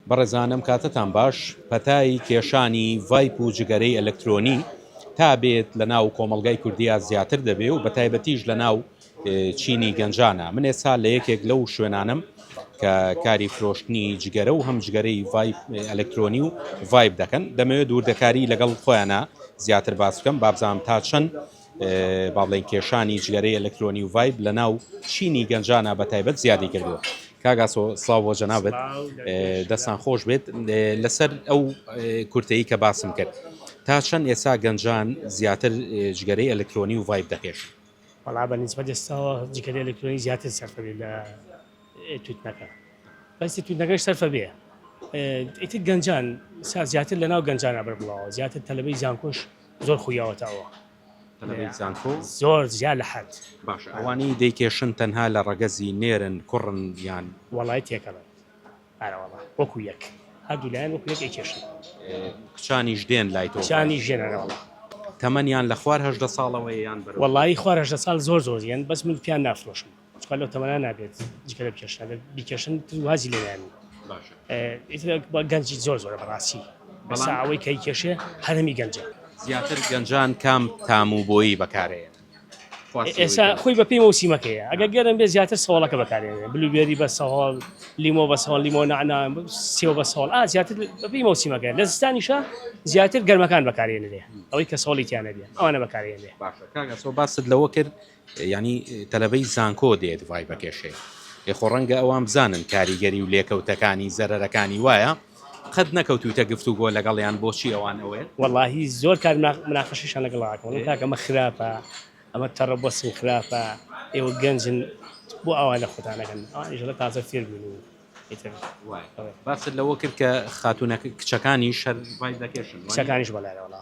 بەڕێزانم کاتتان باش، پەتای کێشانی ڤایپ و جگەرەی ئەلەکترۆنی تا بێت لە ناو کۆمەڵگای کوردیا زیاتر دەبێ و بەتایبەتیش لە ناو چینی گەنجانا، من ئێستا لە یەکێک لەو شوێنانەم کە کاری فرۆشتنی جگەرە و هەم جگەرەی ڤایپ ئەلەکترۆنی و ڤایپ دەکەن، دەمەوێ دووردەکاری لەگەڵ خۆیانا زیاتر باس بکەم، بابزانم تا چەند با بڵێین کێشانی جگەرەی ئەلەکترۆنی و ڤایب لە ناو چینی گەنجانە بە تایبەت زیادی کردووە کاگاسۆ سلااو بۆ جەنابێت دەستان خۆش بێت لەسەر ئەو کورتەی کە باسم کرد تا چەند ئێسا گەنجان زیاتر جگەرەی ئەلکترۆنی و ڤایب دەکێش بەڵا بە نسبەت ئێستاوە جگەری ئەلکترۆنی زیاتر سەرفەبێ لە توتنەکە بەسی توتنەکەش سەرفە بێ ئیتر گەنجان زیاتر لە ناو گەنجانە بەر بڵاوە زیاتر تەلبەی زانکۆش زۆر خویاوەتە ئەوە. تەلەبەی زانکۆ؟ زۆر جیا لە حەد. باشە ئەوانەی دەیکێشن تەنها لە ڕەگەزی نێرن، کوڕن یان؟ وەڵای تێکەڵن ئەرەوەڵا وەکو یەک هەردوو لایەن وەکو یەک ئەیکێشن. کچانیش دێن لای تۆ؟ کچانیش دێن ئەرەوەڵا. تەمەنیان لە خوار هەژدە ساڵەوەیە یان بەرەو؟ وەڵایی خوار هەژدە ساڵ زۆر زۆر دێن بەس من پیان نافرۆشم. چکە لەو تەمەنا نابێت جکە لە بکێشن ئەگەر بیکێشن تر وازی لێ نانی باشە اه، ئیتر بە گەنجی زۆر زۆرە بەڕاستی بەسا بەڵام ئەوەی کەی کێشێ هەرمی گەنجە زیاتر گەنجان کام تام و بۆیی بەکارەیە ئێ- خواسی ئێستا ویتر خۆی بەپێی مەوسیمەکەیە ئەگەر گەرم بێ زیاتر سەوڵەکە بەکارێنێ بلوبێری بە سەهۆڵ لیمۆ بە سەوڵ لیمۆ نعنا سێو بە سەوڵ ئا زیاتر بەپێی مەوسیمەکە لە زستانیشە زیاتر گەرمەکان بەکارێنرێ ئەوەی کە سەوڵی تیانەبێ ئەوانە بەکارێنرێ باشە کاک ئەسۆ باست لەوە کرد یانی تەلەبەی زانکۆ دێت ڤایبەکێش هەیە ئێ خۆ ڕەنگە ئەوان بزانن کاریگەری و لێکەوتەکانی زەرەرەکانی وایە قەت نەکەوتویتە گفتوگۆ لەگەڵیان بۆچی ئەوان ئەوێن؟ وەڵاهی زۆر کات مناقەشەشیان لەگەڵ ئەکەم وەڵام کاکە ئەمە خراپە ئەمە تەڕە بۆ سم خراپە ئێوە گەنجن بۆ ئاوا لە خۆتان نەکەن ئەوانیش لە تازە فێر بوون و ئیتر وایە. ئەوە. باست لەوە کرد کە خاتوونەکە کچەکانیش هەر ڤایب دەکێشن وانییە؟ کچەکانیش بەڵێ وەڵا